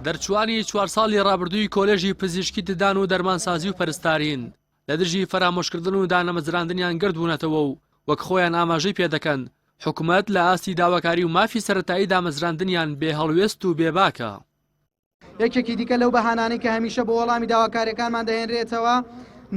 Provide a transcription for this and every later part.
دەرچووانی چوار ساڵی ڕابردووی کۆلێژی پزیشکی ددان و دەرمانسازی و پەرستارین لە دژی فەرامۆشکردن و دانەمەزراندنیان گردبوونەتەوە و وەک خۆیان ئاماژەی پێدەکەن حکومت لە ئاستی داواکاری و مافی سەتایی دامەزراندنیان بێ هەڵوێست و بێباکە. یەکێکی دیکە لەو بەهانانەی کە هەمیشە بۆ وەڵامی داواکاریەکانمان دەهێنرێتەوە،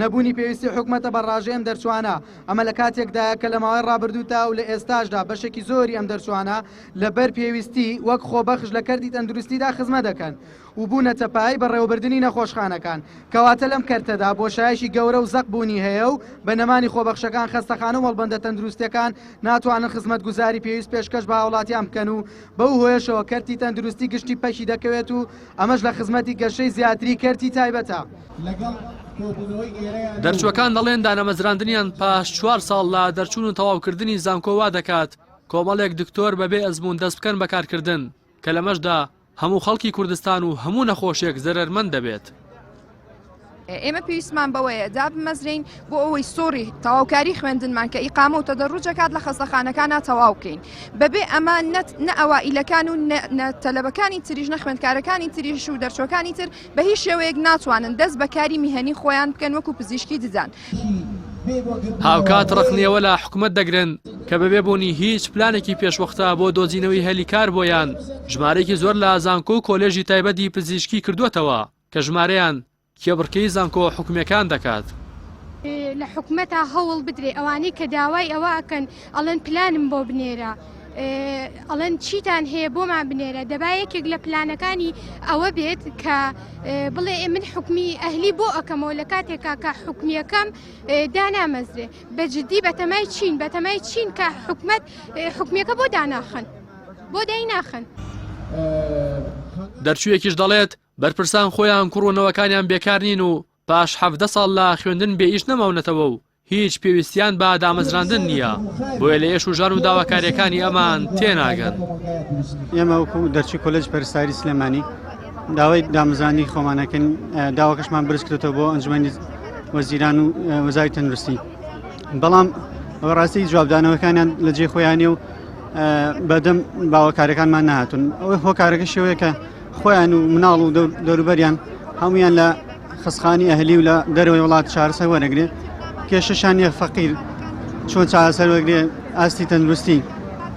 نەبوونی پێویستی حکومەتە بە ڕاژەی ئەم دەرچوانە، ئەمە لە کاتێکدایە کە لە ماوەی ڕابردوودا و لە ئێستاشدا بەشێکی زۆری ئەم دەرچوانە لە بەر پێویستی وەک خۆبەخش لە کەرتی تەندروستیدا خزمەت دەکەن و بوونەتە پایەی بەڕێوەبردنی نەخۆشخانەکان کەواتە لەم کەرتەدا بۆشایەکی گەورە و زەق بوونی هەیە و بە نەمانی خۆبەخشەکان خەستەخانە و مەڵبەندە تەندروستیەکان ناتوانن خزمەتگوزاری پێویست پێشکەش بە هاوڵاتیان بکەن و بەو هۆیەشەوە کەرتی تەندروستی گشتی پەکی دەکەوێت و ئەمەش لە خزمەتی گەشەی زیاتری کەرتی تایبەتە. دەرچووەکان دەڵێن دانەمەزراندنیان پاش چوار ساڵ لە دەرچوون و تەواوکردنی زانکۆ وا دەکات کۆمەڵێک دکتۆر بەبێ ئەزموون دەست بکەن بە کارکردن کە لەمەشدا هەموو خەڵکی کوردستان و هەموو نەخۆشێک زەرەرمەند دەبێت. ئێمە پێویستمان بەوەیە دابمەزرین بۆ ئەوەی سۆری تەواوکاری خوێندنمان کە ئیقامە و تەدەڕوجەکات لە خەستەخانەکانە تەواو بکەین بەبێ ئەمە نەت نە ئەوائیلەکان و تەلەبەکانی تریژ نە خوێندکارەکانی تریش و دەرچوەکانی تر بە هیچ شێوەیەک ناتوانن دەست بەکاری میهنی خۆیان بکەن وەکو پزیشکی ددان. هاوکات ڕەخنەوە لە حکومەت دەگرن کە بەبێ بوونی هیچ پلانێکی پێشوەختە بۆ دۆزینەوەی هەلی کار بۆیان ژمارەیەکی زۆر لە زانکۆ و کۆلێژی تایبەتی پزیشکی کردووەتەوە کە ژمارەیان کێبڕکێی زانکۆ حکومیەکان دەکات. لە حکومەتا هەوڵ بدرێ ئەوانەی کە داوای ئەوە ئەکەن ئەڵێن پلانم بۆ بنێرە ئەڵێن چیتان هەیە بۆمان بنێرە دەبا یەکێک لە پلانەکانی ئەوە بێت کە بڵێ ئێ من حکومی ئەهلی بۆ ئەەکەمەوە لە کاتێکا کە حکومیەکەم دانامەزرێ بە جددی بەتەمای چین بەتەمای چین کە حکومت حکومیەکە بۆ داناخن بۆ دەی ناخن. دەرچوویەکیش دەڵێت، بەرپرسان خۆیان کوڕ و نەوەکانیان بێکار نین و پاش حەڤدە ساڵ لە خوێندن بێ ئیش نەماونەتەوە و هیچ پێویستیان بە دامەزراندن نییە، بۆیە لە ئێش و ژان و داواکارییەکانی ئەمان تێناگەن. ئێمە وەکو دەرچووی کۆلێجی پەرستاری سلێمانی داوای دامەزراندنی خۆمان دەکەین، داواکەشمان بەرز کردووەتەوە بۆ ئەنجومەنی وەزیران و وەزاری تەندروستی، بەڵام ڕاستی جوابدانەوەکانیان لە جێی خۆیانە و بەدەم باوەکارییەکانمان نەهاتوون، ئەوەی هۆکارەکەشی ئەوەیە کە خۆیان و مناڵ و دەوروبەریان هەمویان لە خسخانی ئەهلی و لە دەرەوەی وڵات چارەسەر وەرەگرێ کێشەشان نیە فەقیر چۆن چارەسەر وەگرێ ئاستی تەندروستی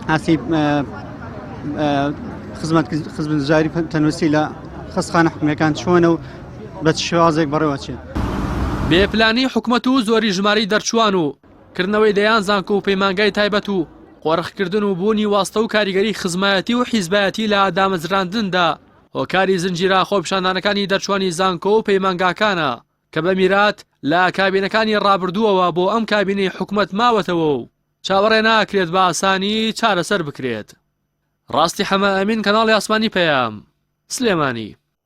ئاسی خزمەت خزمەت جاری تەندروستی لە خستخانە حکومەکان چۆنە و بە شێوازێک بەڕێوەچێت بێپلانی حکومەت و زۆری ژماری دەرچوان و کردنەوەی دەیان زانکۆ و پەیمانگای تایبەت و قۆرخکردن و بوونی واستە و کاریگەری خزمایەتی و حیزبایەتی لە دامەزراندندا هۆکاری زنجیرە خۆپیشاندانەکانی دەرچوانی زانکۆ و پەیمانگاکانە کە بە میرات لە کابینەکانی ڕابردووەوە بۆ ئەم کابینەی حکومەت ماوەتەوە و چاوەڕێ ناکرێت بە ئاسانی چارەسەر بکرێت. ڕاستی حەمە ئەمین کەناڵی ئاسمانی پەیام سلێمانی.